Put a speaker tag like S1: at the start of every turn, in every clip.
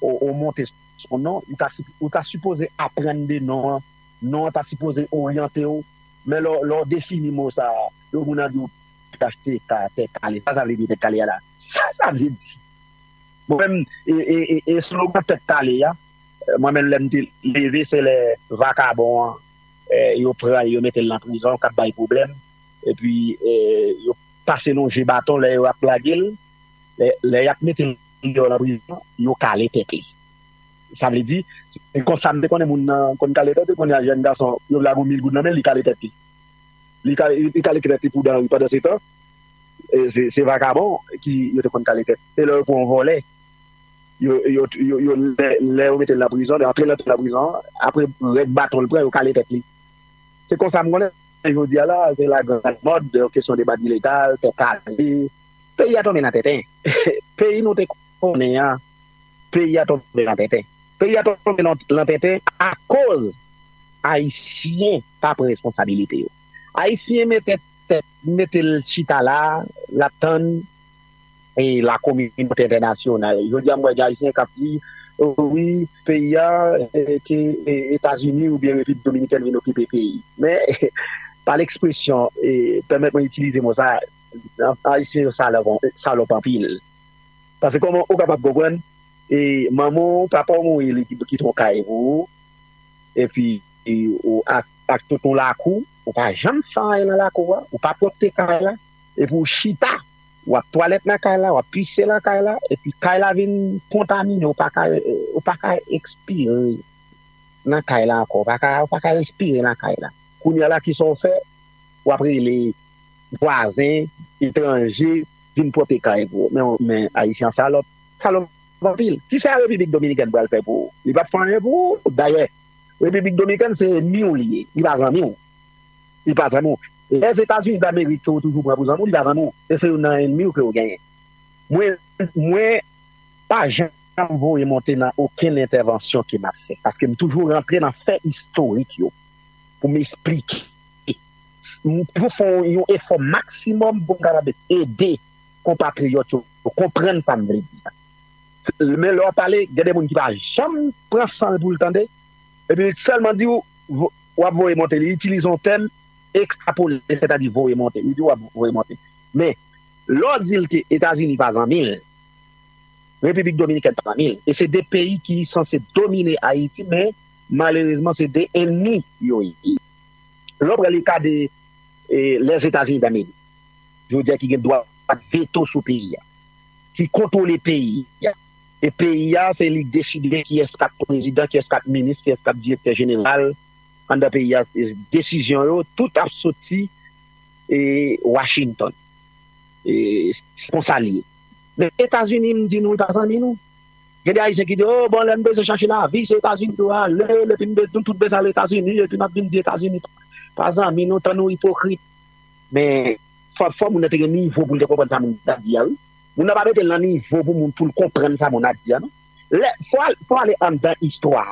S1: ou monte son non ou ta sipoze aprann de non an non an ta sipoze oryante w men lè w defini mo sa a yon moun ap di w phtk tèt kale sa sa vle di tèt kale a la sa sa vle di mwen menm eslogan tèt kale a mwen menm lè m te leve se lè vakabon an yo pran l yo mete l nan prizon k ap bay pwoblèm epi yo pase nou je baton lè yo ap lage l lè y ap mete l. Li gen yon nan prizon yo kale tèt li sa vle di se konsa m te konnen moun nan konn kale tèt li kounye a jèn gason yo vle ago mil goud nan men l li kale tèt li li kale tèt li pou dan ri pandan se tan se vakabon ki yo te konn kale tèt e lè yo pran yon vòlè yo yo lè yo mete l nan prizon yo antre l nan prizon an apre rèk baton l pran yo kale tèt li se konsa m konnen jodi a la se la grand mode kesyon de badiletal tèt kale. Peyi a tonbe nan tenten. Peyi nou te konnen an, peyi a tonbe nan tenten. Peyi a tonbe nan tenten akoz Ayisyen pa pran responsabilite yo. Ayisyen mete tèt, mete l chita la, l ap tann lakominote entènasyonal. Jodi a m wè gen Ayisyen k ap di, wi, peyi a, ke Etazini oubyen Repiblik Dominikèn vin okipe peyi. Men, pa l ekspresyon, pèmèt mwen itilize mo sa. Ayisyen yo salòp anpil. Pase kòman ou kapab konprann manman w, papa w mouri li kite yon kay pou ou epi ou ak tout yon lakou, ou pa janm fè anyen nan lakou a, ou pa pwòpte kay la epi ou chita w ap twalèt nan kay la, w ap pise nan kay la epi kay la vin kontamine ou pa ka ekspire nan kay la ankò, ou pa ka respire nan kay la. Kounya la kisa w fè? W ap rele vwazen, etranje vin pwote kay pou ou. Men Ayisyen an salòp. Salòp anpil. Kisa Repiblik Dominikèn pral fè pou ou? Li pap fè anyen pou ou. Dayè, Repiblik Dominikèn se enmi ou li ye. Li pa zanmi ou. Li pa zanmi ou. Lèzetazini Damerik ke ou toujou pran pou zanmi ou, li pa zanmi ou. E se youn nan enmi ou ke ou genyen. Mwen, mwen pa janm voye monte nan okenn entèvansyon ke m ap fè. Paske m toujou rantre nan fè istorik yo pou m esplike. pou fè yon efò maksimòm pou m kapab ede konpatriyòt yo konprann sa m vle di a. Men lè w ap pale, gen de moun ki pa janm pran san l pou l tande, epi li sèlman di w, w ap voye monte. Li itilize yon tèm, ekstrapole, sètadi voye monte. Li di w w ap voye monte. Men, lè w di l ke Etazini pa zanmi l, Repiblik Dominikèn pa zanmi l, e se de peyi ki sanse domine Ayiti, men malerezman se de ennmi yo ye. Lè w pran ka de Lèzetazini Damerik, jodi a ki gen dwa veto sou peyi a, ki kontwole peyi a, e peyi a se li k deside kiyès k ap prezidan, kiyès k ap minis, kiyès k ap direktè jeneral anndan peyi a, desizyon yo tout ap soti Washington. Se konsa li ye. Men Etazini m di nou li pa zanmi nou. Gen de ayisyen ki di oh bon lèn bezwen chache lavi se etazini nou ale epi nou tout bezwen al etazini epi nap vin di etazini pa zanmi nou tan nou ipokrit men fò moun nan te gen nivo poul te konprann sa moun nan di a wi moun nan pa metel nan nivo pou moun poul konprann sa moun nan di a non lè fò ale anndan istwa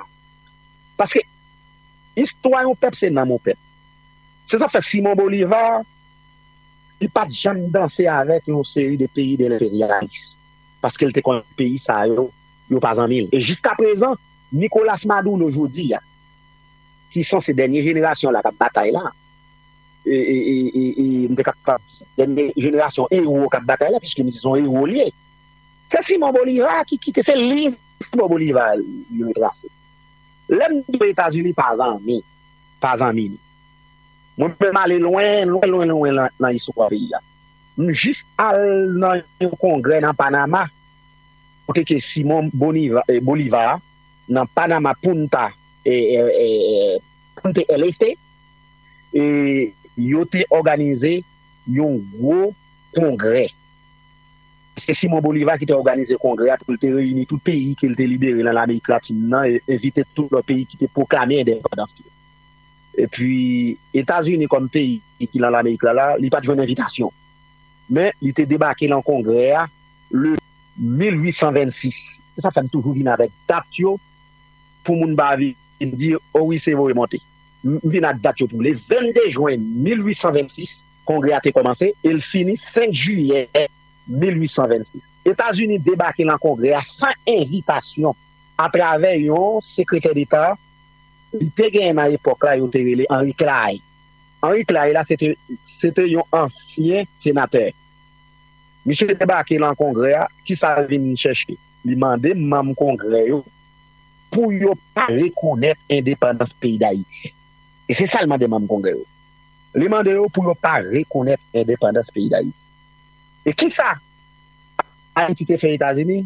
S1: paske istwa yon pèp se nanm yon pèp se sa fè simon bolivar li pat janm danse avèk yon seri de peyi de enperyalis. paske l te konn peyi sa yo, yo pa zanmi l. E jiskaprezan, Nicolas Maduro jodi a, ki sanse dènye jenerasyon la k ap batay la, m te kapab di dènye jenerasyon ewo k ap batay la, piske m di se yon ewo l ye, se Simon Bolivar ki kite, se liy Simon Bolivar li retrase. Lè m di w Etazini pa zanmi, pa zanmi li. Mwen menm ale lwen, lwen, lwen, lwen nan istwa peyi a. M jis al nan yon kongrè nan Panama kote ke Simon Bolivar nan Panama Punta Punta el Este e yo te òganize yon gwo kongrè. Se Simon Bolivar ki te òganize kongrè a pou l te reyini tout peyi ke l te libere nan Lamerik Latin nan e envite tout lòt peyi ki te pwoklame endepandans yo. Epi Etazini kòm peyi ki lan Lamerik la la, li pa t jwenn envitasyon. Men, li te debake lan Kongrè a le. 1826. Se sa k fè m toujou vin avèk dat yo pou moun pa vin di o wi se voye monte. M vin ak dat yo pou le 22 jwen 1826, Kongrè a te kòmanse e l fini 5 jiyè 1826. Etazini debake lan Kongrè a san envitasyon atravè yon Sekretè Deta. Li te genyen nan epòk la yo te rele Henry Clay. Henry Clay la se te yon ansyen senatè. Misye debake lan Kongrè a, ki sa l vin chèche? Li mande manm Kongrè yo pou yo pa rekonèt endepandans peyi Dayiti. E se sa l mande manm Kongrè yo. Li mande yo pou yo pa rekonèt endepandans peyi Dayiti. E ki sa Ayiti te fè Etazini?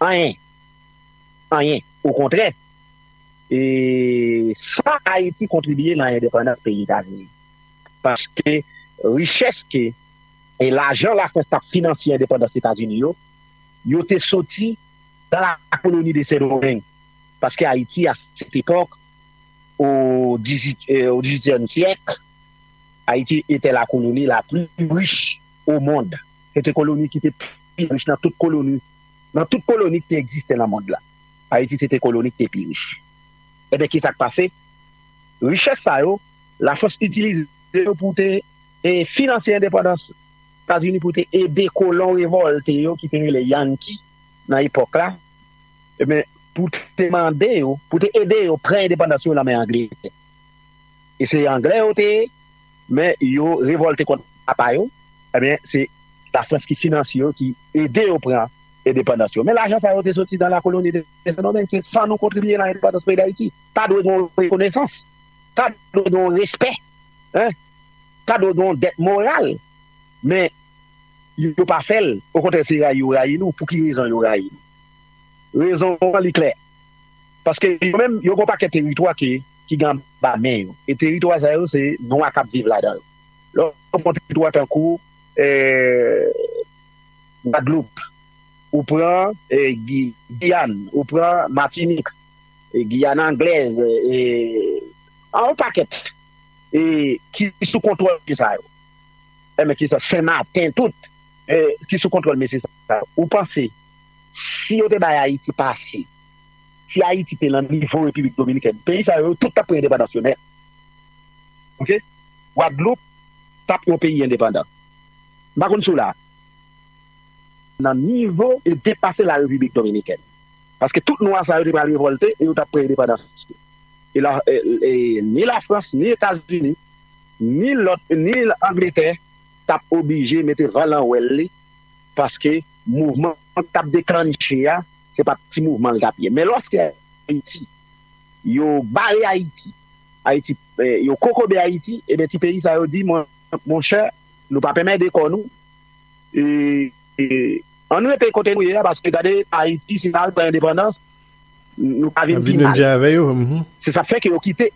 S1: Anyen. Anyen. Okontrè. E sa Ayiti kontribye nan endepandans peyi Etazini. Paske richès ke e lajan Lafrans t ap finansye endepandans Etazini yo, yo te soti nan la koloni de Sendomeng. Paske Ayiti a sèt epòk, o dizuityèm syèk, Ayiti etè la koloni la pli rich o mond. Se te koloni ki te pli rich nan tout koloni, nan tout koloni ki te egziste nan mond la. Ayiti se te koloni ki te pi rich. Enben, ki sa k pase? Richès sa yo, Lafrans itilize yo pou te finanse endepandans Etazini, pou te ede kolon revòlte yo ki te rele yanki nan epòk la, enben, pou te mande yo, pou te ede yo pran endepandans yo nan men Angletè. E se Anglè yo te. Men yo revolte kont apa yo, ebyen se lafrans ki finansye yo ki ede yo pran endepandans yo men lajan sa yo te soti nan lakoloni de sendomeng se san nou kontribiye nan endepandans peyi dayiti ta dwe gen yon rekonesans ta dwe gen yon respè ta dwe gen yon dèt moral men yo pa fèl okontrè se rayi yo rayi nou pouki rezon yo rayi nou rezon an li klè paske yo menm yo gen yon pakèt teritwa ke ki gen anba men yo. E teritwa sa yo se nwa k ap viv ladan yo. Lè w pran teritwa tankou Gwadloup, ou pran Giyàn, ou pran Matinik, Giyàn anglèz, yon pakèt ki sou kontwòl mesye sa yo. Enben, ki sa? Senmaten, tout ki sou kontwòl mesye sa yo. Ou panse si yo te bay Ayiti pase si ayiti te lan nivo repiblik dominikèn peyi sa yo tout tap pran endepandans yo nèt ok gwadloup tap yon peyi endepandan m pa konn si w la nan nivo e depase la repiblik dominikèn paske tout nwa sa yo te pral revòlte e yo tap pran endepandans yo e la e ni la frans ni etazini ni lòt ni angletè tap oblije mete van lan wèl li paske mouvman. Sa k t ap deklannche a, se pa t ti mouvman l t ap ye. Men lòske Ayiti, yo bare Ayiti, Ayiti, yo kokobe Ayiti, enben ti peyi sa yo di, monchè, nou pa p enmède kò nou, an n rete kote nou ye a, paske gade Ayiti, si n al pran endepandans, nou ka vin pi mal. Se sa k fè ke yo kite,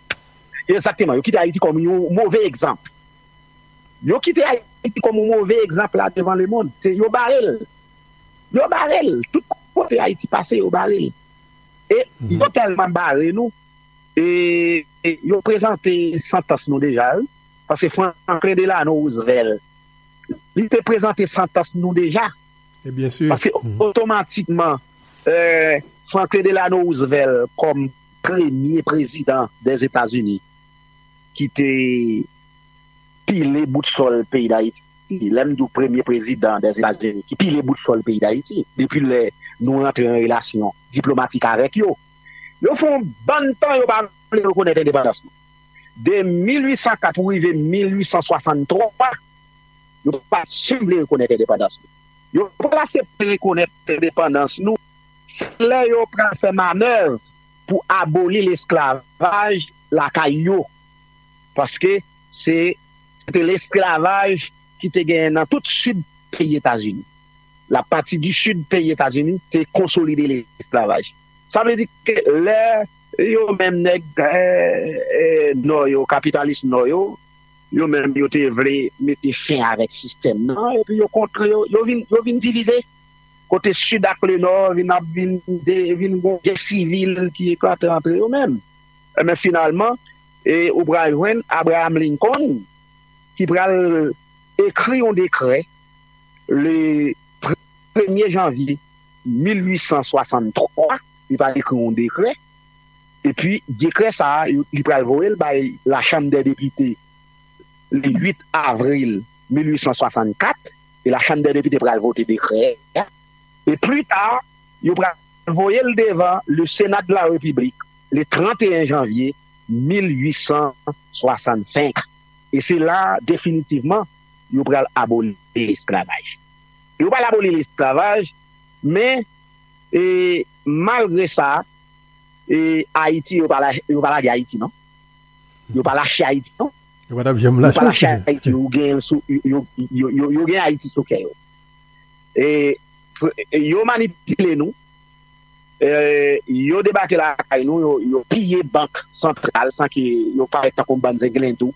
S1: egzakteman, yo kite Ayiti kòm yon move egzanp. Yo kite Ayiti kòm yon move egzanp la devan lemond. Se yo bare l. Yo bare l. Tout kote Ayiti pase, yo bare l. E yo tèlman bare nou, e yo prezante santans nou deja wi. Paske Franklin Delano Roosevelt, li te prezante santans nou deja. E byen si. Paske
S2: otomatikman,
S1: Franklin Delano Roosevelt kòm premye prezidan dèzetazini. ki te pile bout sòl peyi Dayiti. Lè m di w premye prezidan Dèzetazini ki pile bout sòl peyi Dayiti, depi lè nou rantre an relasyon diplomatik avèk yo, yo fè yon bann tan yo pa vle rekonèt endepandans nou. De 1804 pou rive 1863, yo pa janm vle rekonèt endepandans nou. Yo pral asepte rekonèt endepandans nou se lè yo pral fè manèv. pou aboli lesklavaj lakay yo, paske se te lesklavaj ki te genyen nan tout sid peyi Etazini. Lapati di sid peyi Etazini te konsolide lesklavaj. Sa vle di ke lè yo menm nèg Nò yo, kapitalis Nò yo, yo menm yo te vle mete fen avèk sistèm nan, epi yo kontre yo, yo vin divize. kote Sid ak Le Nò vin ap vin de vin gon gè sivil ki eklate antre yo menm enben finalman e ou pral jwenn Abraham Lincoln ki pral ekri yon dekrè le premye janvye 1863 li pral ekri yon dekrè epi dekrè sa a li pral voye l bay la chanm dè depite le 8 avril 1864. e la chanm dè depite pral vote dekrè a e pli ta yo pral voye l devan le Senat de la Republique le 31 janvye 1865 e se la definitivman yo pral aboli lesklavaj yo pral aboli lesklavaj men e malgre sa e Ayiti yo pa lage Ayiti non yo pa lache Ayiti non. Yo pa tap janm lache yo chef. Yo pa lache Ayiti yo gen yo sou yo gen Ayiti sou kè yo. E yo manipile nou. Yo debake lakay nou yo piye bank santral san ke yo parèt tankou yon bann zenglendo.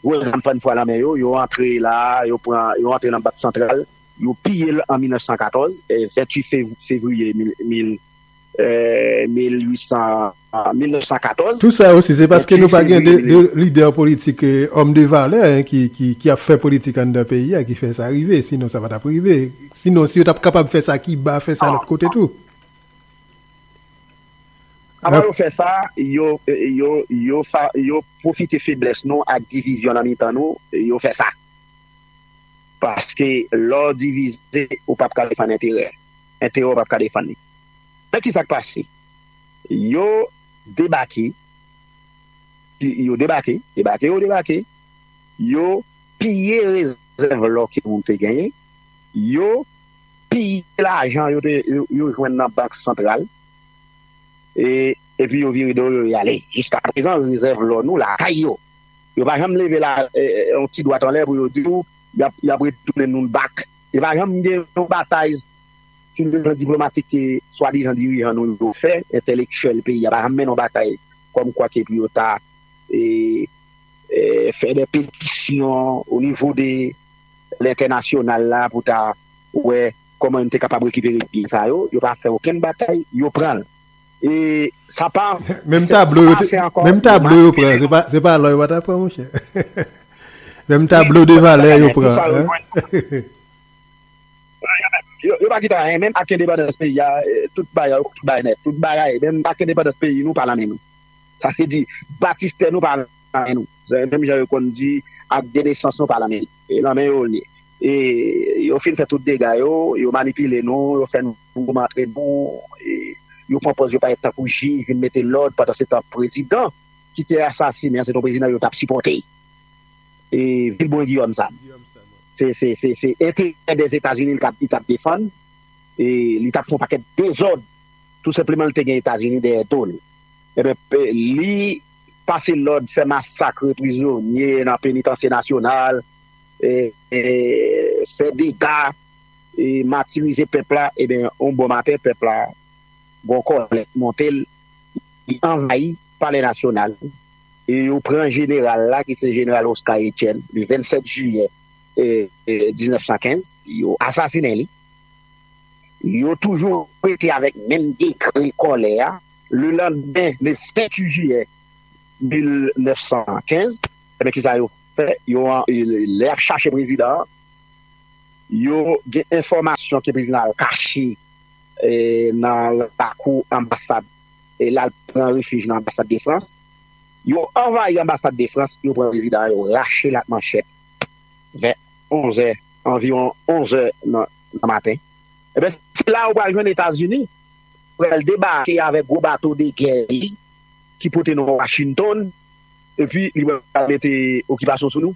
S1: Gwo zam fann fwa nan men yo, yo antre la yo pran yo antre nan bank santral yo piye l an 1914 28 fevriye 1914. 1814. Tout sa yo si se paske
S2: nou pa gen 2 lidè politik òm de valè ki ap fè politik anndan peyi a ki fè sa rive sinon sa pa tap rive sinon si yo tap kapab fè sa kiba fè sa lòt kote tou.
S1: Avan yo fè sa yo pwofite feblès nou ak divizyon nan mitan nou yo fè sa paske lè w divize ou pap ka defann enterè. men Théo pap ka defann li men kisa k pase yo debake yo debake debake yo debake yo piye rezèv lò ke moun te genyen yo piye lajan yo te yo jwenn nan bank santral e epi yo vire do yo yo ale jiskaprezan rezèv lò nou lakay yo yo pa janm leve la yon ti dwat anlè pou yo di ou y ap retounen nou l bak. Li pa janm gen yon batay sou le plan diplomatik ke swadizan dirijan nou yo fè, entèlektyèl peyi a pa janm mennen yon batay kòm kwa ke pou yo ta fè de petisyon o nivo de lentènasyonal la pou ta wè kòman yo te kapab rekipere byen sa yo. Yo pa fè okenn batay, yo pran l. E sa pa Menm tablo yo te
S2: Menm tablo yo pran Se pa lò yo pa ta pran monchè Menm tablo de valè yo pran
S1: Yo pa kite anyen Menm ak endepandans peyi a Tout bagay yo tout bay nèt Tout bagay Menm ak endepandans peyi nou pa nan men nou Sa vle di Batistè nou pa nan men nou Menm jan yo konn di Ak de nesans nou pa nan men Nan men yo li ye E yo fin fè tout dega yo Yo manipile nou Yo fè nou. Pou matre bon e yo pran pòz yo parèt tankou jij vin mete lòd pandan se tan prezidan ki te asasine an se ton prezidan yo tap sipòte e vil bon Guillaume sa se se enterè dè etazini li tap li tap defann e li tap fon pakèt dezòd tou senpleman li te gen etazini dèyè do l eben li pase lòd fè masakre prizonye nan penitansye nasyonal e fè dega. matirize pèp la eben yon bon maten pèp la gon kòlè k monte l li anvayi palè nasyonal e yo pran jeneral la ki se jeneral Oscar Etienne le 27 jiyè 1915 yo asasinen li yo toujou rete avèk menm degre kòlè a le landmen le 28 jiyè 1915 eben kisa yo fè yo lè yap chache prezidan an. Yo gen enfòmasyon ke prezidan al kache nan lakou anbasad e lal pran refij nan anbasad de Frans. Yo anvayi anbasad de Frans, yo pran prezidan an, yo rache l ak manchèt vè 11 zè, anviwon 11 zè nan maten. Enben, se la ou pral jwenn Etazini pral debake avèk gwo bato de gè li ki pote non Washington epi li pral mete okipasyon sou nou.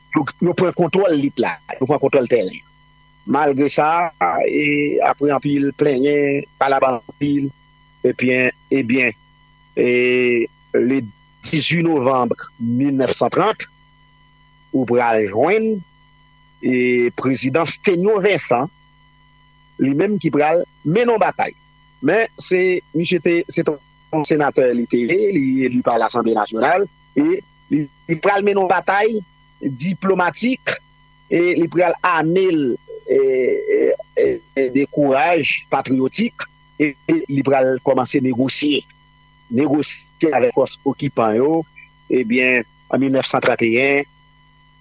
S1: Yo pran kontwòl lit la, yo pran kontwòl tèren an. Malgre sa, apre anpil plenyen, palabra anpil, ebyen, ebyen, le 18 novanm 1930, ou pral jwenn prezidan Sténio Vincent, li menm ki pral mennen yon batay. Men, se misye te, se te yon senatè li te ye, li eli pa Lasanble Nasyonal. e li pral mennen yon batay diplomatik e li pral ame l de kouraj patriyotik e li pral kòmanse negosye negosye avèk fòs okipan yo ebyen an 1931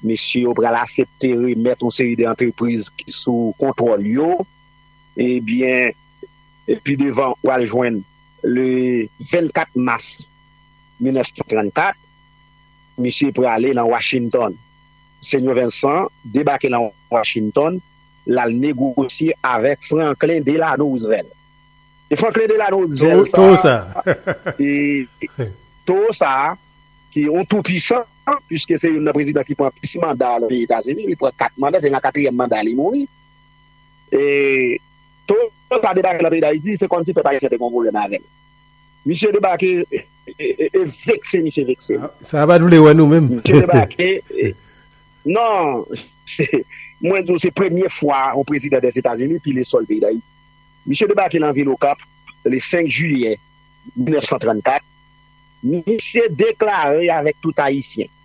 S1: mesye yo pral asepte remèt yon seri de antrepriz ki sou kontwòl yo ebyen pi devan ou pral jwenn le 24 mas. 1934, misye prale nan Washington. Senyò Vincent debake nan Washington, l al negosye avèk Franklin Delano Roosevelt. E Franklin Delano Roosevelt sa a, e towo sa a, ki yon tou pwisan, puiske se youn nan prezidan ki pran plis manda nan peyi Etazini, li pran 4 manda, se nan katriyèm manda a li mouri. E towo sa a debake nan peyi Dayiti, se kòmsi pèp ayisyen te gen yon pwoblèm avè l. Misye debake e vekse misye vekse m. Sa a pa t vle wè nou
S2: menm. Misye debake
S1: e non mwen di w se premye fwa yon prezidan dèzetazini pile sòl peyi dayiti. Misye debake nan vil okap le 5 jiyè 1934 misye deklare avèk tout ayisyen.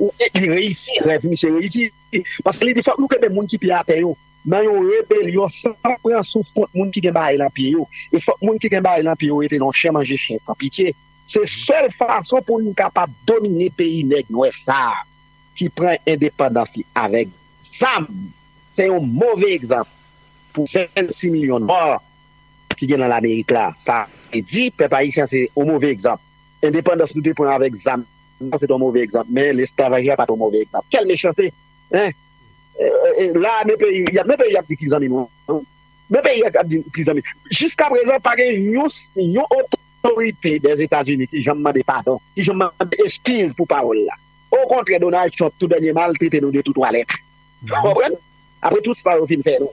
S1: Ou e li reyisi rèv misye reyisi paske li di fòk nou kenbe moun ki pye atè yo nan yon rebelyon san pran souf kont moun ki gen bagay nan pye yo e fòk moun ki gen bagay nan pye yo rete nan chen manje chen san pitye se sèl fason pou nou kapab domine peyi nèg nwè sa ki pran endepandans li avèk zam se yon move egzanp pou 26 milyon nwa ki gen nan lamerik la sa vle di pèp ayisyen se yon move egzanp. Endepandans nou te pran avèk zam nan se te yon move egzanp, men lesklavaj la pa te yon move egzanp. Kèl mechante! Hein! La a men peyi, y ap men peyi y ap di ki zanmi nou an. Men peyi y ap di ki zanmi. Jiskaprezan pa gen yon, yon otorite dèzetazini ki janm mande padon, ki janm mande eskiz pou pawòl la. Okontrè Donald Trump tou dènyèman al trete nou de tou twalèt. Ou konprann? Apre tout sa yo fin fè nou.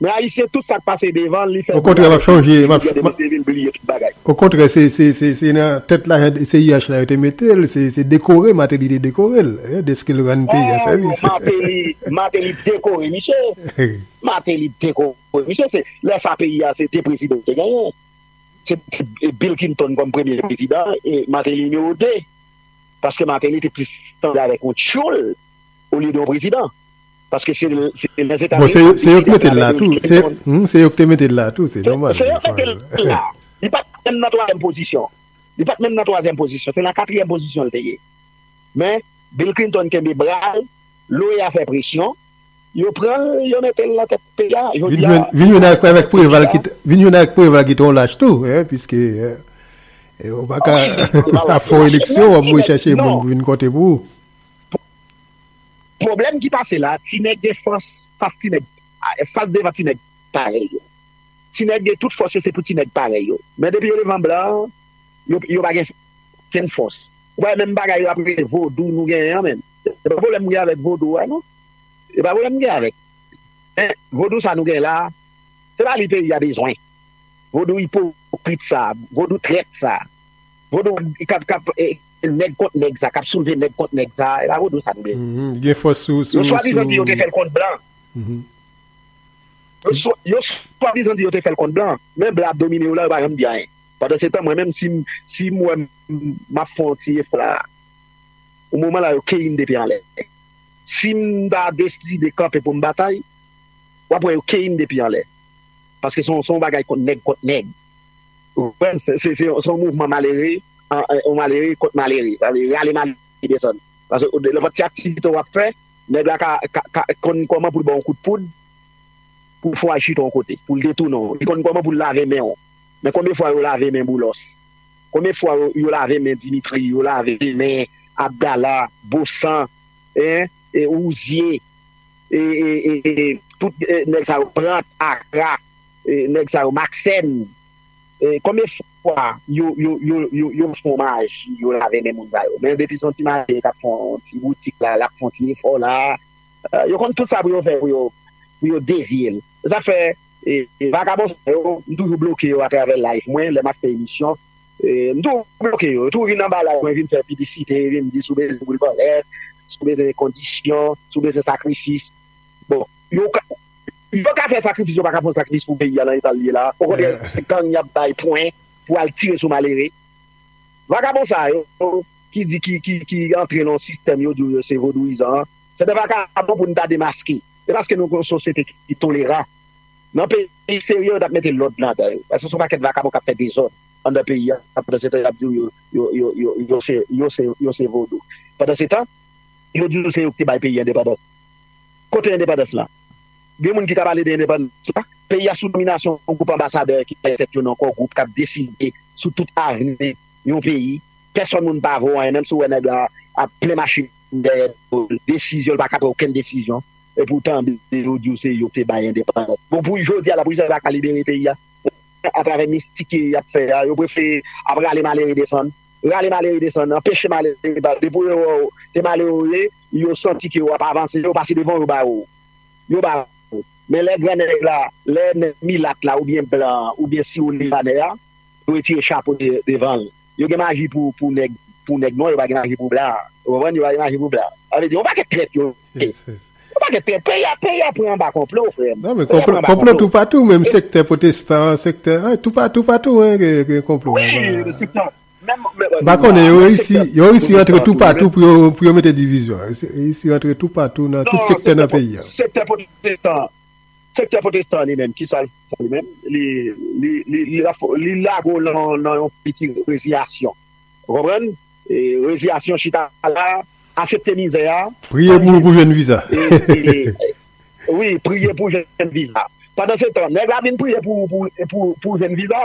S1: Men ayisyen tout sak pase devan li fè koulya yo vin di li gen de
S2: mesye vin bliye tout bagay. Okontrè se nan tèt lajan CIH la yo te metel se dekore Mateli te dekorel deskel rann peyi a sèvis. Ohh Mateli Mateli
S1: dekore misye Mateli dekore misye se lè sa peyi a se 2 prezidan te genyen se Bill Clinton kòm premye prezidan e Mateli nimewo 2 paske Mateli te plis sanble avèk yon tyoul olye de yon prezidan. Paske se Lèzetazini ki ap deside
S2: a travè Bill Clinton. Bon, se yo ki te mete l la tou. Se yo ki te mete l la.
S1: Li pa t menm nan twazyèm pozisyon. Li pa t menm nan twazyèm pozisyon. Se nan katriyèm pozisyon l te ye. Men, Bill Clinton kenbe bra l, l'OEA fè presyon, yo pran l, yo mete l nan tèt peyi a. Jodi a, Vin jwenn
S2: avèk Preval ki t, vin jwenn avèk Preval ki t yon lach tou, piske ou pa ka ap fè yon eleksyon w ap voye chache moun pou vin konte pou ou.
S1: Pwoblèm ki pase la, ti nèg gen fòs fas ti nèg, fas devan ti nèg parèy yo. Ti nèg gen tout fòs yo se pou ti nèg parèy yo. Men depi yo devan blan, yo yo pa gen kenn fòs. Ou pa wè menm bagay yo ap rele vodou nou genyen an menm. Se pa pwoblèm m gen avèk vodou a non. Se pa pwoblèm m gen avèk. Men vodou sa nou genyen la a, se pa li peyi a bezwen. Vodou ipokrit sa a, vodou trèt sa a, vodou kap kap. Se nèg kont nèg sa kap soulve nèg kont nèg sa epa vodou sa tnde. Gen fòs sou sou. Yo
S2: swadizan di yo te fèl
S1: kont blan. Yo swadizan di yo te fèl kont blan men blan ap domine yo la yo pa janm di anyen pandan se tan mwen menm sim wè map fè yon ti efò la yon moman la yo keyim de pye anlè sim ta deside kanpe poum batay wap wè yo keyim de pye anlè paske son bagay nèg kont nèg ou konprann se yon mouvman malere. yon malere kont malere sa vle rale malere desann paske nenpòt ti aktivite wap fè nèg la ka konn kòman poul baw kout poud pou fè w al chita yon kote poul detounen w li konn kòman poul lave men w men konbyen fwa yo lave men Boulos konbyen fwa yo lave men Dimitri yo lave men Abdala Bosan Rouzier e tout nèg sa yo Plant Akra nèg sa yo Maxène Konbyen fwa yo fon maji yo lave men moun sa yo men depi son ti maji kap fon ti boutik la lap fon ti efò la yo konn tout sa pou yo fè pou yo devyel sa fè vakabon sa yo m toujou bloke yo atravè live mwen lè map fè emisyon m toujou bloke yo yo toujou vin anba live mwen vin fè piblisite yo vin di sou bezwen boul bòlèt sou bezwen kondisyon sou bezwen sakrifis bon yo ka. Yo ka fè sakrifis yo paka fon sakrifis pou peyi a nan etal liye la o kontrè se gang yap bay pwen pou al tire sou malere vagabon sa yo ki di ki antre nan sistèm yo di yo se vodouyizan an se de vagabon pou nou ta demaske e paske nou gon sosyete ki toleran nan peyi serye yo tap mete lòd ladan yo paske son pakèt vagabon kap fè dezòd andan peyi a pandan se tan yap di yo se vodou pandan se tan yo di nou se yo ki te bay peyi endepandans kote endepandans lan. Gen moun ki ta pale de endepandans la, peyi a sou dominasyon yon gwoup anbasadè ki rele tèt yo nan Kò Gwoup k ap deside sou tout avni yon peyi. Pèsòn moun pa vo anyen, menm si w wè nèg la ap plen machin dèyè do l, desizyon l pa ka pran okenn desizyon. Epi w tande yo di w se yo k te bay endepandans. Bon pou jodi a la pou Izrayèl pa ka libere peyi a atravè mistik y ap fè a, yo prefere ap rale malere desann, rale malere desann, anpeche malere pale pou yo wè w te malere w ye. yo santi ke wap avanse yo pase devan yo ba ou yo ba ou men lè gran nèg la lè nèg milat la oubyen blan an oubyen siwo libanè a yo retire chapo devanl yo gen maji pou pou nèg pou nèg nwa yo pa gen maji pou blan ou konprann yo pa gen maji pou blan sa vle di yon pakèt trèt yo ye yon pakèt trèt peyi a peyi a pran anba konplo frèm non men konplo konplo
S2: tou patou menm sektè potestan sektè toupatou patou gen konplo wi sektè
S1: M pa
S2: konnen, yo reyisi, yo reyisi rantre tou patou pou yo, pou yo mete divizyon. Yo reyisi rantre tou patou nan tout sektè nan peyi a. Non, sektè pwotestan an,
S1: sektè pwotestan an li menm, ki sa l fè li menm? Li, li, li, li ap, li lage w lan, nan yon piti reziyasyon. Ou konprann? E reziyasyon chita la, asepte mizè a. Priye pou ou pou jwenn
S2: viza.
S1: Wi, priye pou jwenn viza. Pandansetan, nèg la vin priye pou, pou, pou, pou jwenn viza.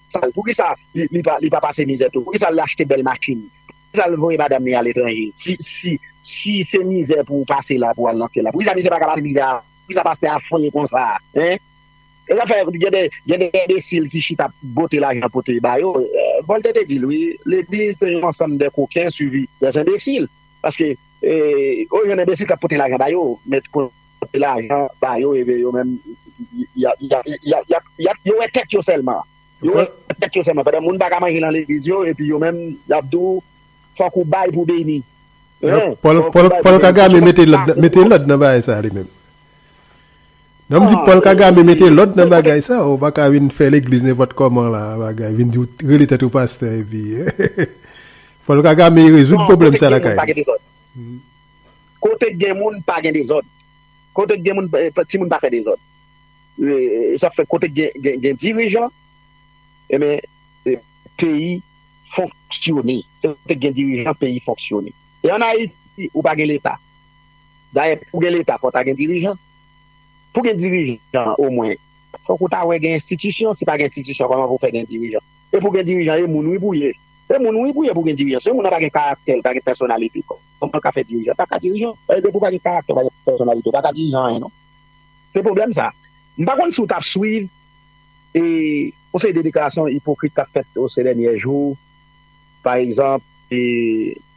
S1: Sal poukisa li pa pase mizè tou poukisa li achte bèl machin poukisa li voye madam li ale tranje si se mizè pou pase la pou al nan syèl la poukisa misye paka pase mizè avan poukisa pastè a fre konsa hein esa fè gen de enbesil ki chita ap bote lajan pote bayo voltè te dil wi legliz se yon ansanm de koken suivi de enbesil paske ou jwenn enbesil kap pote lajan bayo met Pote lajan ba yo ebe yo menm yap yo wè tèt yo sèlman yo wè tèt yo sèlman pandan moun paka manje nan legliz yo epi yo menm yap di w fòk ou bay pou beni
S2: Paul kagame mete lòd nan bagay sa li menm non m di Paul kagame mete lòd nan bagay sa ou paka vin fè legliz nenpòt kòman la bagay vin di w rele tèt ou pastè epi Paul kagame rezoud pwoblèm sa lakay li. Kote
S1: k gen moun pa gen dezòd kote k gen moun ti moun pa fè dezòd sa fè kote k gen dirijan enben peyi fonksyone se kote k gen dirijan peyi fonksyone e an ayiti ou pa gen leta dayè pou gen leta fò ta gen dirijan pou gen dirijan omwen fòk ou ta wè gen enstitisyon si pa gen enstitisyon kòman pou fè gen dirijan e pou gen dirijan e moun wi pou ye e moun wi pou ye pou gen dirijan se moun nan pa gen karaktè li pa gen pèsonalite. Kòman l ka fè dirijan? L pa ka dirijan. E depi w pa gen karaktè, w pa gen pèsonalite, w pa ka dirijan anyen non. Se pwoblèm sa. M pa konn si w t ap swiv e yon seri de deklarasyon ipokrit k ap fèt se dènyè jou. Pa egzanp,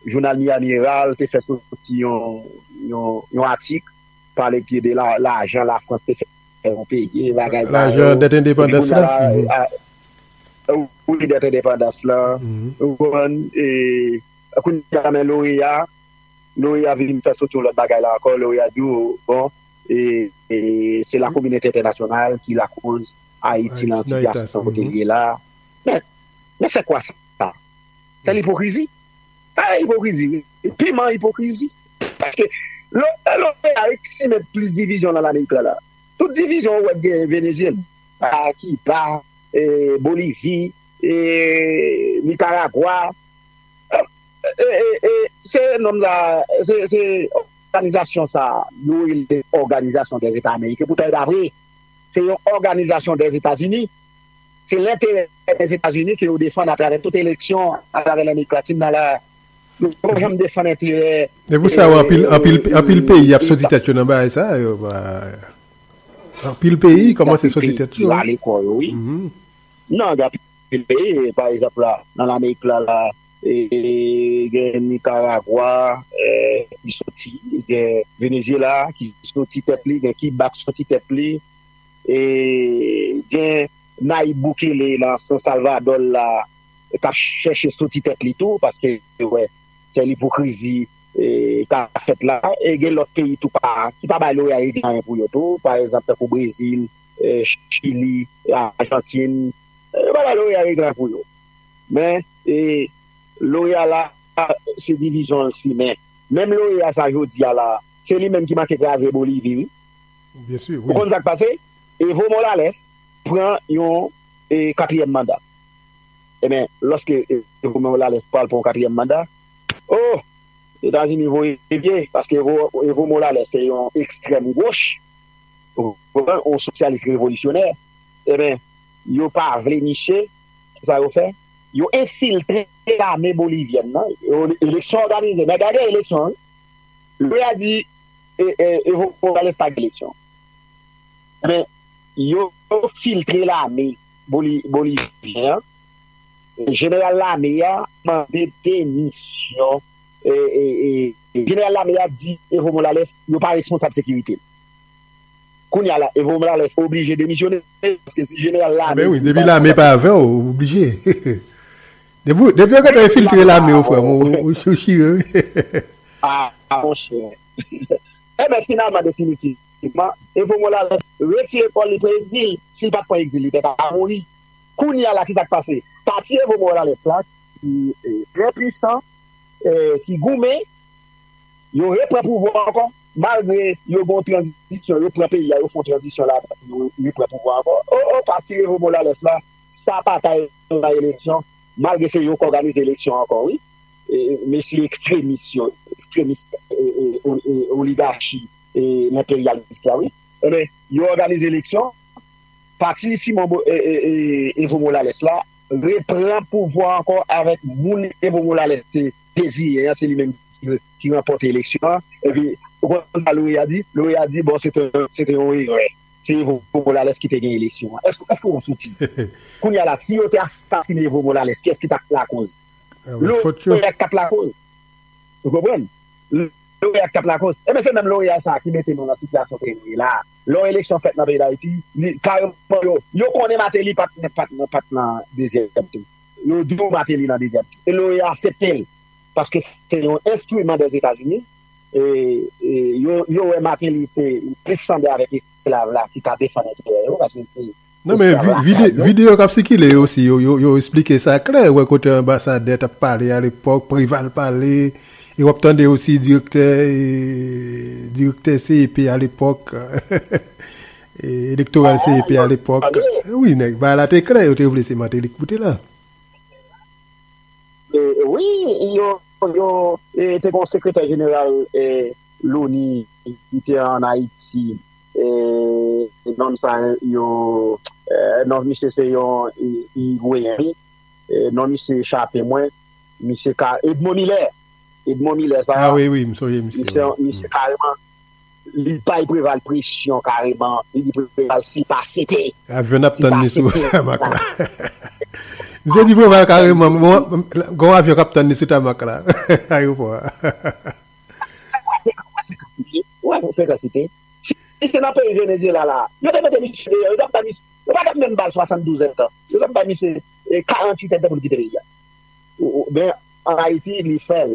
S1: jounal Miami Herald te fè soti yon atik pale pye de lajan Lafrans te fè yon peyi e bagay sa yo. Lajan dèt
S2: endepandans la.
S1: Wi, dèt endepandans la. Ou konprann? Kounye a men loreya, loreya vin fè soti yon lòt bagay la ankò, loreya di ou bon e se la kominoti entènasyonal ki lakoz Ayiti lan sitiyasyon kote li ye la, men men sè kwa sa? Sè lipokrizi, sa se ipokrizi wi, piman ipokrizi, paske lò loreya resi si met plis divizyon lan lamerik la la, tout divizyon ou wè k genyen Venezyela, Kiba, Bolivi, Nikaragwa. Se nom sa se se òganizasyon sa yo rele òganizasyon dè zeta ameriken poutan e pa vre se yon òganizasyon dè etazini se lenterè dè etazini ke yo defann atravè tout eleksyon atravè lamerik latin nan la yo pa janm defann enterè e pou sa anpil anpil
S2: anpil peyi ap soti tèt yo nan bagay sa yo anpil peyi kòmanse soti tèt yo anpil peyi yo ale kò yo wi
S1: nan anpil Pa egzanp la, nan Lamerik la la, gen Nikaragwa ki soti, gen Venezyela ki soti tèt li, gen Kiba ki soti tèt li, gen Nayib Bukele nan San Salvadò l la k ap chèche soti tèt li tou paske yo wè sèl ipokrizi k ap fèt la e gen lòt peyi tou pa ki pa bay loyal italyen pou yo tou pa egzanp tankou Brezil, Chili, Ajantin. Yo pa bay loreya règ la pou yo. Men, loreya la, se divizyon l simen. Menm loreya sa jodi a la, se li menm ki manke kraze Bolivi wi.
S2: Ou konn sa k pase?
S1: Evo Molales pran yon katriyèm manda. Enben, lòske Evo Molales pral pran yon katriyèm manda, o! Etazini voye pye, paske Evo Molales se yon ekstrèm goch, yon sosyalis revolisyonè. Eben, yo pa vle misye, ki sa yo fè? Yo enfiltre lame bolivyèn nan, eleksyon òganize, men gade eleksyon wi. Lè ya di Evo Morales pa gen eleksyon. Eben, yo filtre lame bolivyèn an, jeneral lame ya mande demisyon, jeneral lame ya di Evo Morales yo pa responsab sekirite l. Kounya la Evo Morales oblije demisyone paske si jeneral lame di li pa
S2: dakò lap demisyonnen. Depi yo gentan enfiltre lame yo frèm ou chire wi.
S1: Aa monchè. Enben finalman definitivman Evo Morales retire kòl li pran egzil. Sil pat pran egzil li te ka mouri. Kounya la kisa k pase? Pati Evo Morales la ki trè pwisan, ki goumen yo repran pouvwa ankò. Malgre yo gon tranzisyon yo pran peyi a yo fon tranzisyon la dan pou yo repran pouvwa ankò oh oh pati Evo Molales la sa paka nan eleksyon malgre se yo k òganize eleksyon ankò wi mesye ekstremis yo ekstremis oligachi enperyalis la wi enben yo òganize eleksyon pati Simon Evo Molales la repran pouvwa ankò avèk moun Evo Molales te deziyen an se li menm ki ki ranpòte eleksyon an, epi ou konn sa Loreya di? Loreya di bon se te yon erè, se Evo Molales ki te gen eleksyon an. Eske ou soutiz? Kounya la si yo te asasine Evo Molales kiyès ki tap lakoz? Loreya ki tap lakoz. Ou konprann? Loreya ki tap lakoz. Ebyen se menm Loreya sa ki mete nou nan sitiyasyon peyi nou ye la a. Lè yon eleksyon fèt nan peyi Dayiti, kareman yo, yo konnen Mateli pat nan dezyèm tou. Yo di w Mateli nan dezyèm tou. E Loreya asepte l. paske se yon enstriman dè Etazini yo wè Martelly se plis sanble avèk esklav la ki ka defann enterè yo paske se Non men
S2: videyo kap sikile yo si yo esplike sa klè wè kote anbasadè tap pale a lepòk Preval pale e wap tande osi direktè direktè CEP a lepòk elektoral CEP a lepòk wi nèg bagay la te klè yo te vle se Martelly ki pou te la.
S1: Wi, yo te gen yon sekretè jeneral loni ki te an Ayiti, nonm sa yo, non misye se yon Irigweyen wi, non misye echape mwen, misye ka, Edmond Milè, Edmond Milè sa,
S2: misye kareman.
S1: Li bay Preval presyon kareman, li di Preval si l pa sete. Avyon n ap tann li sou
S2: tamak la. Misye di Preval kareman gen yon avyon k ap tann li sou tamak la, ayewopò a.
S1: Wè yon frekansite. Si se nan peyi Venezyela la a, yo te mete misye deyò, yo t ap bay misye, yo pa t ap menm ba l 72 èdtan, yo t ap bay misye 48 èdtan pou l kite peyi a. Men an Ayiti, li fè l.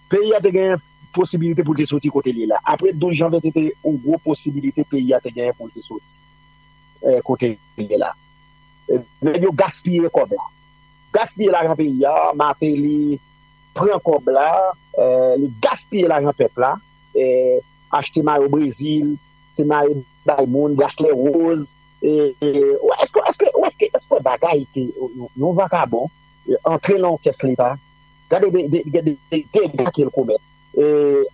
S1: Peyi a te genyen posibilite pou l te soti kote l ye la. Apre 12 janvye te te yon gwo posibilite peyi a te genyen pou l te soti kote l ye la. Nèg yo gaspiye kòb la. Gaspiye lajan peyi a. Mateli pran kòb la. Li gaspiye lajan pèp la. Achte mayo Brezil. Te maye bay moun. Braslè woz. Ou eske ou eske bagay ke yon vakabon antre lan yon kès leta. Gade de dega kel komèt.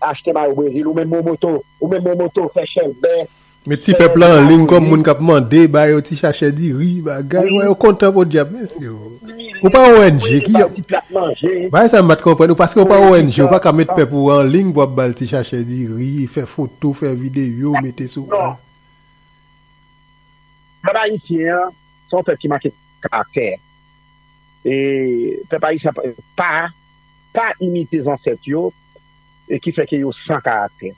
S1: Achte mayo brezil ou menm momoto ou menm momoto fè chèlbè. Met ti pèp la
S2: anliy kòm moun kap mande ba yo ti chachè diri bagay wè yo kontan podyab mesye o ou pa ong ki bagay sa m pat konprann paske ou pa ong ou paka met pèp ou anliy pou ap bal ti chachè diri fè foto fè videyo mete sou pèp
S1: ayisyen an son pèp ki manke karaktè e pèp ayisyen ap pa pa imite zansèt yo e ki fè ke yo san karaktè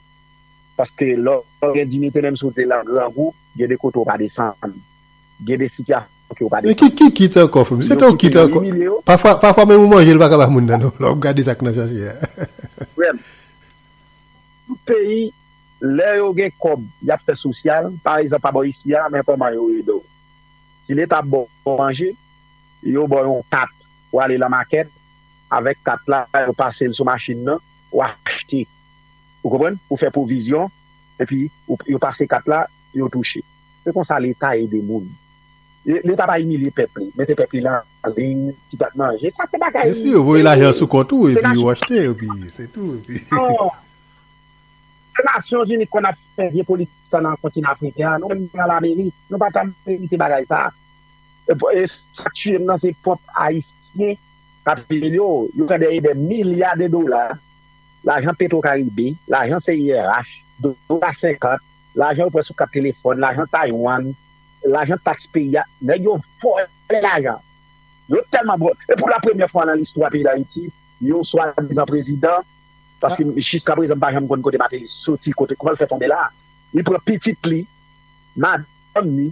S1: paske lè w gen diyite menm si w te nan grangou gen de kote w pa desann gen de sitiyasyon ke w pa desann ki kit ankò frè m se
S2: tanw kit ankò pafwa menm yon manje l paka ba moun nan non lè w gade sa k nan sachet a frè m
S1: tout peyi lè yo gen kòb y ap fè sosyal pa egzanp pa bò isi a men kòman yo ede w. Si leta ap ba w manje, yo ba w yon kat pou ale lan makèt, avèk kat la yo pase l sou machin nan, ou achte. Ou konprann? Ou fè pwovizyon, epi yo pase kat la, yo touche. Se konsa leta ede moun. Leta pa imilye pèp li, mete pèp li lan liy, ti pèp manje. Sa se bagay. Menmsi yo voye lajan sou kont
S2: ou, epi ou achte, epi se tou. Non.
S1: Se nasyon zini ki konn ap fè vye politik sa nan kontinan afriken an nou menm nan lamerik nou pa ta merite bagay sa e sak tiyem nan se pwòp ayisyen kap peye yo yo pran dèyè dè milya de dola lajan petro karibe lajan CIRH dola senkant lajan yo pran sou kat telefòn lajan taiwan lajan taks peyi a nèg yo vòlè lajan yo tèlman vòlè e pou la premyè fwa nan listwa peyi dayiti yon swadizan prezidan. paske jiska prezan m pa janm konn kote Martelly soti kote kòman l fè tonbe la a li pran pitit li madanm li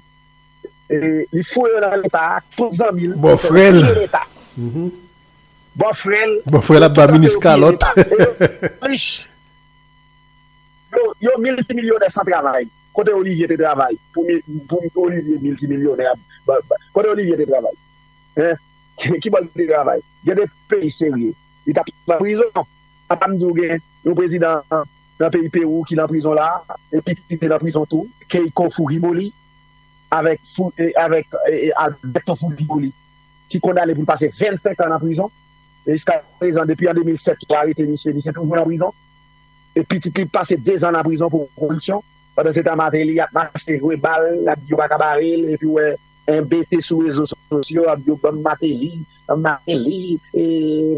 S1: li foure yo nan leta a tout zanmi l yo fè yo piye leta bòfrè l bòfrè l ap ba
S2: minis kalòt e yo rich
S1: yo miltimilyonè san travay kote Olivier te travay pou Olivier miltimilyonè kote Olivier te travay kibò l te travay gen de peyi serye. li tap nan prizon a pa m di w gen yon prezidan nan peyi pewou ki nan prizon la epi ki te nan prizon tou keiko fujimoli avèk avèk alberto fujimoli ki kondane pou l pase 25 an nan prizon e jiska prezan depi an 2007 yo arete misye misye toujou nan prizon e pitit li pase 2 zan nan prizon pou koripsyon pandan se tan martelly ap mache jwe bal ap di yo pa ka bare l epi w wè Enbete sou rezo sosyo ap di yo banm mateli mateli e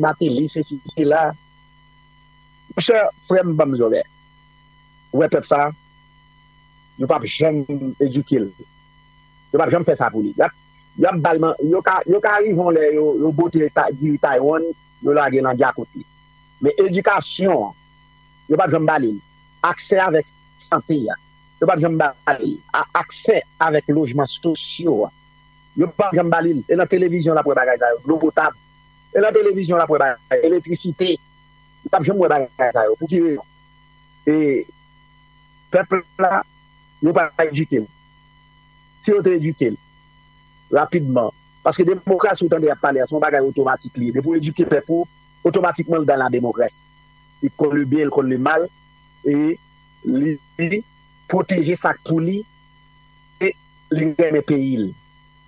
S1: mateli sesi sela monchè frèm banm zòrè wè pèp sa yo pap janm edukel yo pap janm fè sa pou li yap bal man yo ka yo ka rive yon lè yo bote diri taiwan yo lagel nan djakout li men edikasyon yo pap janm balil aksè avèk sante a. yo pap janm ba li a aksè avèk lojman sosyo a yo pap janm ba li l e nan televizyon l ap wè bagay sa yo dlo potab e nan televizyon l ap wè bagay elektrisite li pap janm wè bagay sa yo pou ki rezon e pèp la yo pa edike l si yo te edike l rapidman paske demokrasi ou tande y ap pale a se yon bagay otomatik li ye depi w edike pèp ou otomatikman l dan lademokrasi li konn le byen e l konn le mal e. li pwoteje sak pou li e li renmen peyil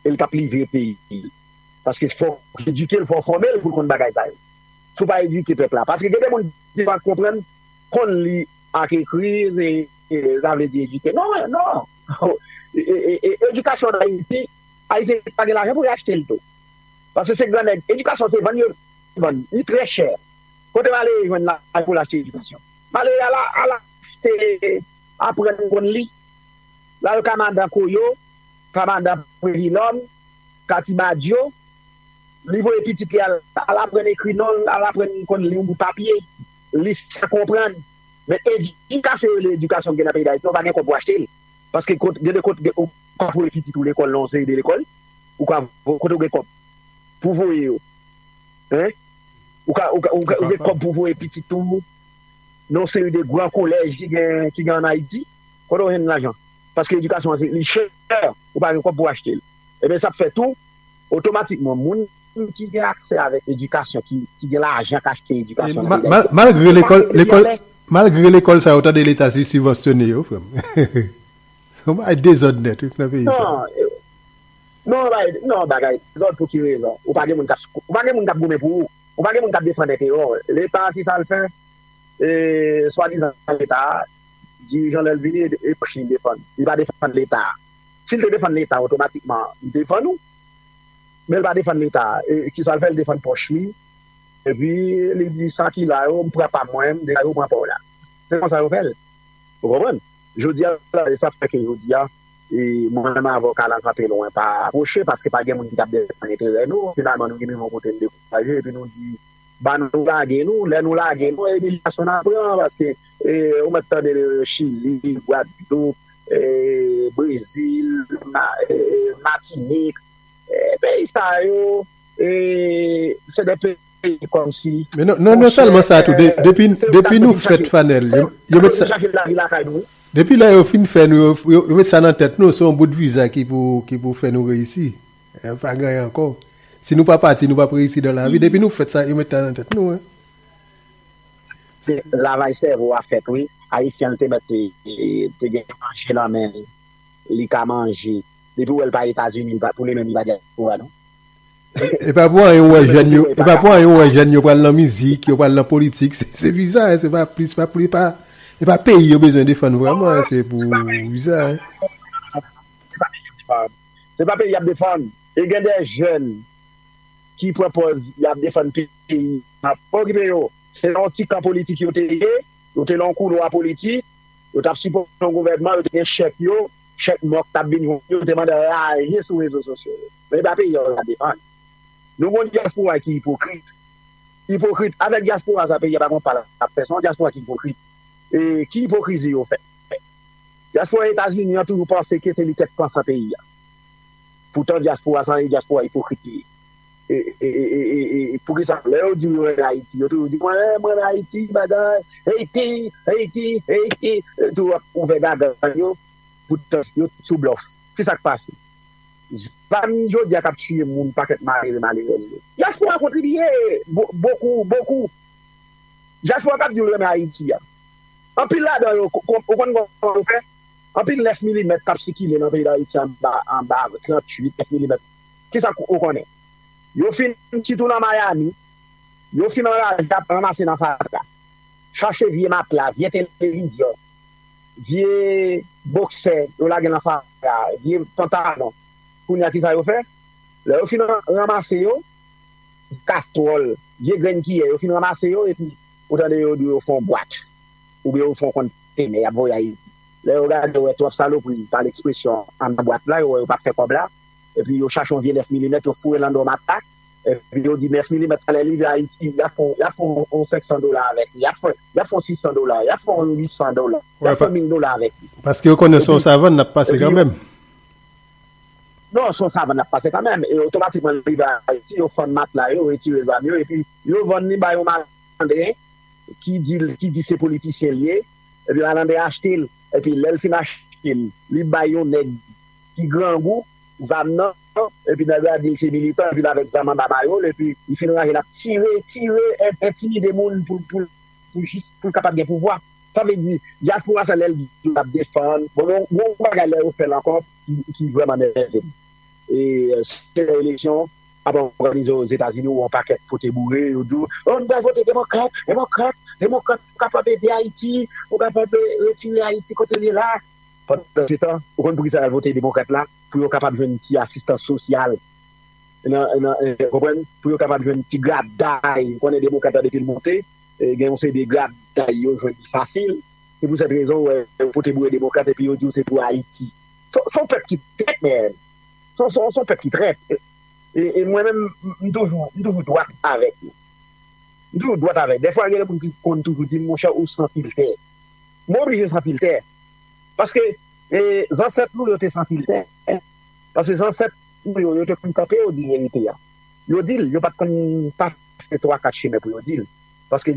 S1: el tap livre peyil paske fok edukel fok fòmel poul konn bagay sa yo sou pa eduke pèp la paske gen de moun ki pa konprann konn li ak ekri sa vle di eduke non non edukasyon an ayiti ayisyen pa gen lajan pou yo achtel tou paske se gran nèg edukasyon se vann yo vann li trè chè kote wale jwenn lajan poul achte edukasyon. Malere a la ala te aprann konn li. Lal kamadan koyo, kamadan previlòm, kati badyo. Li voye pitit li al al aprann ekri non l, al aprann konn li yon bout papye. Li sa konprann. Men edikasyon yo rele edikasyon gen nan peyi Dayiti yo pa gen kòb pou achte l. Paske kot gen de kot ou ka voye pitit ou lekòl nan yon seri de lekòl. Ou ka kote ou gen kòb pou voye yo. Hein? Ou ka ou ka ou ka ou gen kòb pou voye pitit ou nan yon seri de gran kolèj ki gen ki gen an Ayiti? Kote ou jwenn lajan? Paske edikasyon an se li chè, ou pa gen kòb pou w achte l. Ebyen sa ap fè tou, otomatikman moun ki gen aksè avèk edikasyon, ki ki gen lajan k achte edikasyon nan peyi Dayiti, Malgre yo pa lekòl
S2: mete li lekòl anlè. malgre lekòl sa yo, ou tande leta si sibvansyone yo frè m. Se yon bagay dezòd nèt wi nan peyi sa. Non. Non
S1: bay non bagay lòd pou ki rezon? Ou pa gen moun ou pa gen moun k ap goumen pou ou? Ou pa gen moun k ap defann enterè w? Leta a ki sa l fè? E swadizan Leta a? Dirijan lè l vini e e pwòch li l defann. Li pa defann Leta a. Si l te defann Leta a otomatikman li defann ou. Men l pa defann Leta a. E ki sa l fè? L defann pòch li. Epi li di sa ki la yo m pran pa mwen, m degaje w pran pa w la. Se konsa yo fè l. Ou konprann? Jodi a la e sa k fè ke jodi a. Mwen menm avoka la kanpe lwen pa apwoche paske pa gen moun ki tap defann enterè nou, finalman nou rive yon kote n dekouraje epi nou di ba nou lage nou, lè nou lage nou imilyasyon nap pran paske ou mèt tande chili, gwadloup, brezil, matinik peyi sa yo se de peyi. peye kòmsi Men non non non sèlman
S2: sa tou depi depi nou fèt fanel yo met sa depi lè yo fin fè nou yo yo met sa nan tèt nou se yon bout viza ki pou ki pou fè nou reyisi pa gen anyen ankò si nou pa pati nou pap reyisi dan lavi depi nou fèt sa yo met sa nan tèt nou. Se
S1: lavaj sèvo a fèt wi ayisyen an te mèt te gen manje nan menl li ka manje depiw wèl pa etazini pou li menm li pa dyaspora non. E
S2: pa pou anyen ou wè jèn yo, e pa pou anyen ou wè jèn yo pral nan mizik, yo pral nan politik, se viza, se pa plis, pa plis, e pa peyi yo bezwen defann vreman, se pou viza.
S1: Se pa peyi y ap defann, e gen de jèn ki pran pòz y ap defann peyi, pa okipe yo, se nan yon ti kan politik yo te ye, yo te nan yon koulwa politik, yo t ap sipòte yon gouvènman, yo te gen chèk yo, chèk mòk t ap vin jwenn yo, yo te mande raje sou rezo sosyo yo. Men e pa peyi an la depann. Nou gen yon dyaspora ki ipokrit. Ipokrit. Avèk dyaspora sa peyi a pa gen yon pa l ap fè. Se yon dyaspora ki ipokrit. E ki ipokrizi yo fè? Dyaspora Etazini an toujou panse ke se li tèt pansan peyi a. Poutan dyaspora sa se yon dyaspora ipokrit li ye. E poukisa lè yo di yo ann Ayiti, yo toujou di mwen ann Ayiti bagay Ayiti, Ayiti, Ayiti. Yo toujou ap ouvè gaga yo poutan yo sou blòf. Ki sa k pase? Zam jodi a kap tiye moun pakèt malere malerèz yo. Diaspora kontribiye bokou bokou diaspora kap diw renmen ayiti a anpil ladan yo ou konn kòman yo fè anpil 9 milimèt kap sikile nan peyi dayiti anba anba 38 9 milimèt kisa ou konnen yo fin sitou nan miami yo fin anraje ap ranmase nan fatra chache vye matla vye televizyon vye boksè yo lage nan fatra a, vye pantalon, kounye a ki sa yo fè? Lè yo fin ranmase yo, kastwòl, vye grenn kiyè, yo fin ranmase yo epi ou tande yo di yo fè yon bwat oubyen yo fè yon kontenè y ap voye Ayiti. Lè yo gade yo wè twòp salopri, pale ekspresyon, anndan bwat la, yo wè yo pa p fè kòb la epi yo chache yon vye 9 milimèt yo foure l anndan yon matak, Epi yo di 9 milimèt sa lè li rive Ayiti y ap fè yon 500 dola avèk li, y ap fè yon 600 dola, y ap fè yon 800 dola, y ap fè mil dola avèk li. Paske yo konnen se yon
S2: savann l ap pase kanmenm.
S1: Non, se yon savann l ap pase kanmenm. E otomatikman li rive Ayiti, yo fann matla yo, yo retire zam yo epi yo vann li ba yon malandren ki di se politisyen li ye. Epi malandren an achte l. Epi lè l fin achte l, li bay yon nèg ki grangou zam nan. epi nèg la di li se militan epi l avèk zam anba mayol epi li fin ranje l ap tire tire entimide moun pou pou pou jis pou l kapab gen pouvwa sa vle di dyaspora sa lè l di l ap defann bon gen yon bagay lè yo fè l ankò ki ki vrèman nève m e se lè eleksyon ap òganize ozetazini ou yon pakèt pote boure yo di w o nou pral vote demokrat demokrat demokrat pou kapab ede ayiti pou kapab retire ayiti kote l ye la pandansetan ou konn poukisa y al vote demokrat la. pou yo kapab jwenn ti asistans sosyal, ou konprann, pou yo kapab jwenn ti graday, ou konnen demokrat la depi l monte, gen yon seri de graday yo jwenn li fasil, se pou sèt rezon ou wè yo pote boure demokrat epi yo di w se pou Ayiti. Se yon pèp ki trèt nèèd, se yon pèp ki trèt e mwen menm m toujou dwat avèk yo, m toujou dwat avèk yo, dèfwa gen de moun ki konn toujou di m monchè ou san filtè, mwen oblije san filtè paske. E zansèt nou yo te san filtè, paske zansèt nou yo, yo te konn kanpe yo di verite a. Yo di l, yo pa t konn pase twa kat chimen pou yo di l. Paske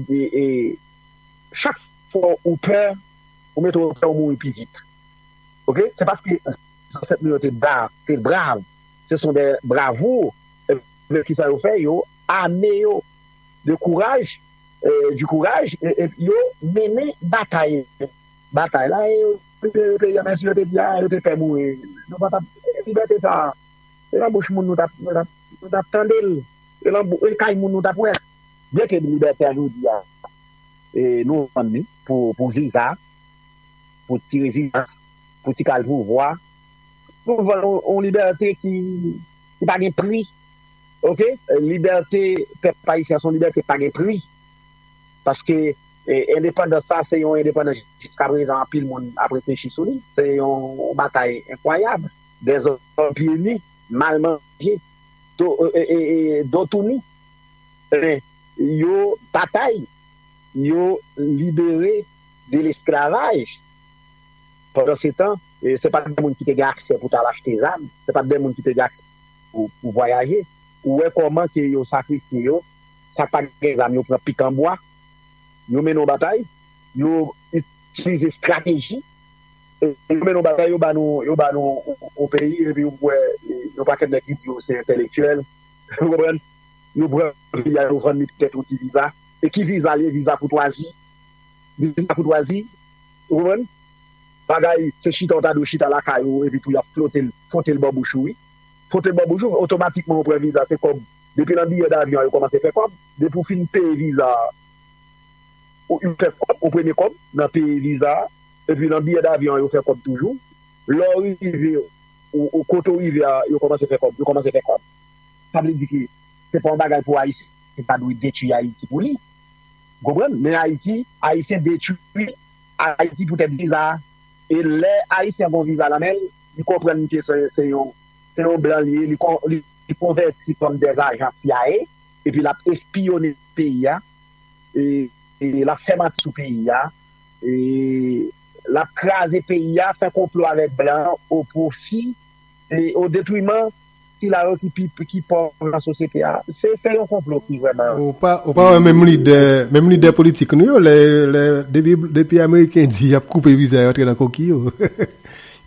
S1: chak fwa ou pè, ou mete ou pè ou mouri pi vit. Ok? Se paske zansèt nou yo te brav, se son dè bravour, ebyen kisa yo fè? Yo ame yo de kouraj, du courage, epi yo mennen batay, batay la e yo. Se te peyi a men si yo te di a yo te pè mouri nou pa tap libète sa se nan bouch moun nou tap nou tap tande l se nan kay moun nou tap wè l byen ke libète a jodi a nou vann li pou viza pou ti rezidans pou ti kal pouvwa nou vann yon libète ki pa gen pri ok libète pèp ayisyen son libète ki pa gen pri paske Endepandans sa se yon endepandans jiska prezan anpil moun ap reflechi sou li. Se yon batay enkwayab, dezòd pye nu, mal manje, do tou nu. Men yo batay, yo libere de lesklavaj. Pandan se tan, se pa t de moun ki te gen aksè pou t al achte zam, se pa t de moun ki te gen aksè pou vwayaje. Ou wè kòman ke yo sakrifye yo, sa k pa gen zam yo pran pikanbwa. yo mennen yon batay, yo itilize estrateji, yo mennen yon batay, yo ba nou yon peyi, epi ou wè yon pakèt nèg ki di yo se entèlektyèl, ou konprann, yo pran peyi a, yo vann li poutèt yon ti viza, e ki viza li ye? Viza koutwazi, viza koutwazi, ou konprann? Bagay, se chita ou ta dwe chita lakay ou, epi tou y ap flote l, fwote l bò bouch ou wi, fwote l bò bouch ou, otomatikman ou pran viza, se kòb, depi nan biyè davyon an yo kòmanse fè kòb. Depi w fin peye viza a, ou fè kòb, ou premye kòb nan peye viza a. Epi nan biyè davyon an yo fè kòb toujou. Lè w rive ou kote w rive a, yo kòmanse fè kòb. Yo kòmanse fè kòb. Sa vle di ke se pa yon bagay pou Ayisyen ta dwe detwi Ayiti pou li. Ou konprann? Men Ayiti, Ayisyen detwi Ayiti poutèt viza a. E lè Ayisyen gen yon viza nan men l, li konprann ke se yon blan li ye, li konvèti kòm dèzajan CIA. Epi lap espiyone peyi a e lap fè manti sou peyi a e lap kraze peyi a, fè konplo avèk blan o pwofi e o detwiman sila yo ki pi ki pòv nan sosyete a. Se se yon konplo ki vrèman. Ou pa ou pa wè menm
S2: lidè menm lidè politik nou yo lè lè depi depi ameriken di yap koupe viza yo antre nan koki yo.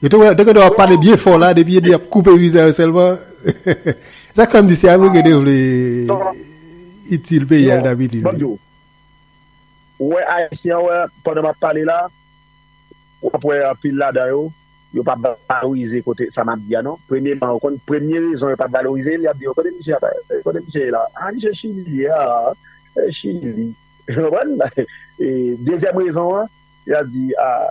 S2: Yo te wè, te gade wap pale byen fò la, depi yo di ap koupe viza yo sèlman, sa k fè m di se Ameriken te vle itil peyi a li t ap itil li. Ou
S1: wè Ayisyen an wè pandan m ap pale la, w ap wè anpil ladan yo, yo pa valorize kote sa m ap di a non. Premyeman, ou konn premye rezon yo pa valorize l, y ap di w kote misye ap, kote misye ye la, a misye Chili li ye, a Chili li, ou konprann? Dezyèm rezon an. Yap di aah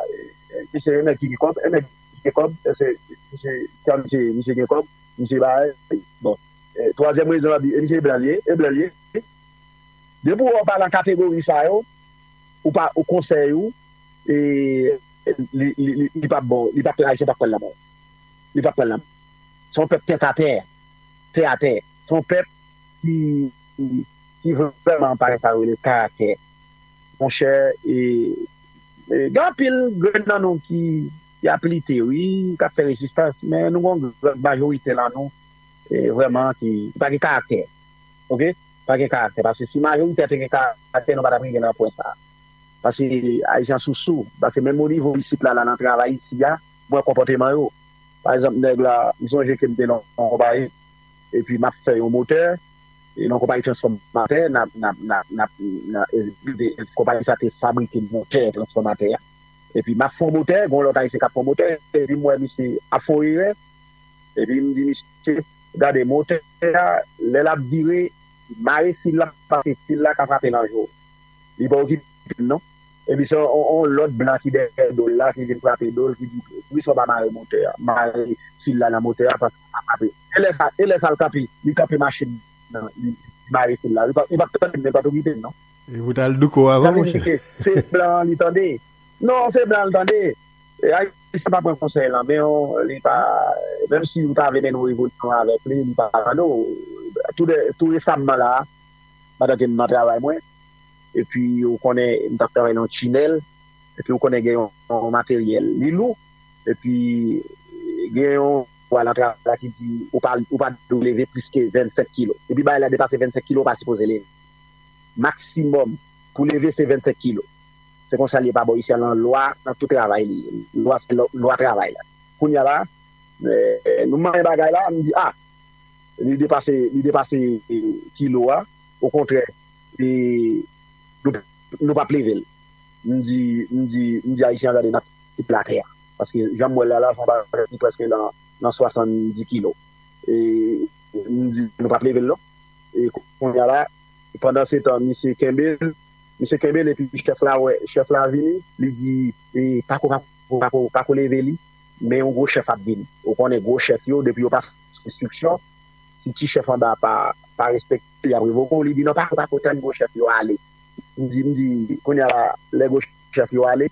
S1: misye yon nèg ki gen kòb, yon nèg ki gen kòb èske misye stan misye misye gen kòb misye bay bon twazyèm rezon yap di e misye e blan li ye e blan li ye depi wè ou pa nan kategori sa yo ou pa ou konsèy ou li pap bon li pap ayisyen pap pranl nan men li pap pranl nan men se yon pèp tèt atè tè atè se yon pèp ki ki vrèman pa gen sa yo rele karaktè. monchè gen anpil grenn nan nou ki ap lite wi k ap fè rezistans men nou gen yon gran majorite nan nou vrèman ki pa gen karaktè ok pa gen karaktè paske si majorite a te gen karaktè nou pa t ap rive nan pwen sa paske ayisyen an sousou paske menm onivo isit la nan travay isi a m wè konpòteman yo pa egzanp nèg la m sonje ke m te nan yon konpayi epi m ap fè yon motè. Yon konpayi transfòmatè, konpayi sa te fabrike motè transfòmatè a. Epi m ap fè yon motè, gen yon lòt Ayisyen k ap fè yon motè, epi m wè misye ap fè yon erè. Epi m di misye, gade motè a, lè l ap vire, mare fil la pase fil la ka frape nan je w. Li pa okipe m non. Epi se yon lòt blan ki dèyè do l la ki vin frape do l, ki di, poukisa w pa mare motè a, mare fil la nan motè a. ap kanpe elè sa elè sa al kanpe li kanpe machin nan li mare fil la li pap tande m li pat okipe m non. Li pou
S2: tal douko avan monchè. Sa vle di ke se blan an li tande
S1: non se blan an li tande ayisyen pa pran konsèy lan men w li pa menm si ou ta vle mennen yon revolisyon avèk li li pa tande w tou de tou resamman la pandan ke m nan travay mwen epi ou konnen m tap travay nan yon tinèl epi ou konnen gen yon materyèl li lou. Epi gen yon vwa nan travay la ki di ou pa ou pa dwe leve plis ke 25 kilo. Depi bagay la depase 25 kilo ou pa sipoze leve. Maksimòm pou leve se 25 kilo. Se konsa l ye pa bò isi a lan lwa nan tout travay li ye. Lwa se lwa travay la. Kounya la nou manyen bagay la nou di a li depase li depase kilo a okontrè e nou nou pap leve l. M di m di m di ayisyen an gade nap. tout latè a paske janm wèl la la son bagay ki prèske nan 70 kilo e mdi nou pap level non e konnya la pandan setan misye kenbel misye kenbel epi chèf la wè chèf la vini li di e pako pako pako leve li men yon gwo chèf ap vini ou konnen gwo chèf yo depi yo pa fè enstriksyon si ti chèf anba pa pa respekte yap revoke w li di non pako pako tann gwo chèf yo ale mdi mdi konnya la lè gwo chèf yo ale.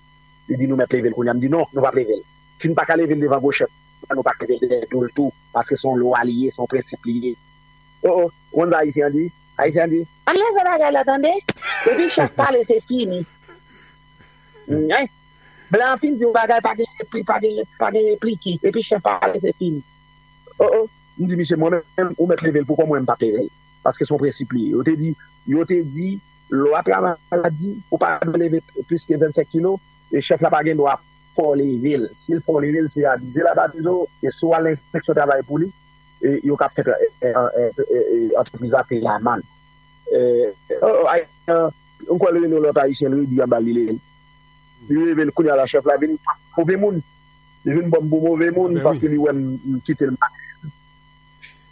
S1: Li di nou mèt leve l kounye a. M di non, nou pap leve l. Si n pa ka leve l devan Goshèp, antan nou pa ka leve l dèyè do l tou, paske se yon lwa li ye, se yon prensip li ye. O o, ou konn sa Ayisyen an di? Ayisyen an di, Ann leve bagay la tande! Depi chèf pale se fini. Nyen! Blan an fin di yon bagay pa gen repli, pa gen pa gen replike. Depi chèf pale se fini. O o, m di misye mwen menm ou mèt leve l pou kò mwen m pap leve l. Paske se yon prensip li ye. Yo te di, yo te di. Lwa travay la di ou pa dwe leve plis ke 25 kilo e chèf la pa gen dwa fè w leve l. Si l fè w leve l, se abize l ap abize w e si w al nan enspeksyon travay pou li, yo ka pèmèt antrepriz la peye amann. M kwè l rele yon lòt Ayisyen, l redi anba l li leve l. Li leve l, kounye a la chèf la vin move moun. Li vin pran m pou move moun paske li wè m kite l.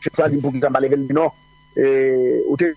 S1: Chèf la di m poukisa m pa leve l, m di non, ou te.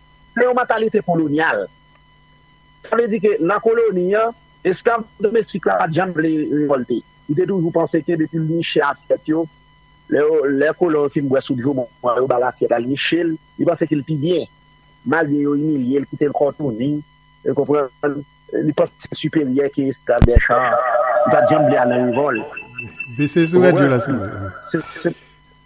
S1: Se yon mantalite kolonyal. Sa vle di ke nan koloni an, esklav domestik la pa t janm vle revòlte. Li te toujou panse ke depi l niche asyèt yo, lè kolon yo fin bwè soup joumou an, yo ba l asyèt la, l niche l, li panse ke l pi byen. Malgre yo imilye l, kite l kò touni, ou konprann, li panse ke l siperyè ke esklav dèchan an. Li pa t janm vle al nan revòlt. Bese sou
S2: radyo la silvouplè.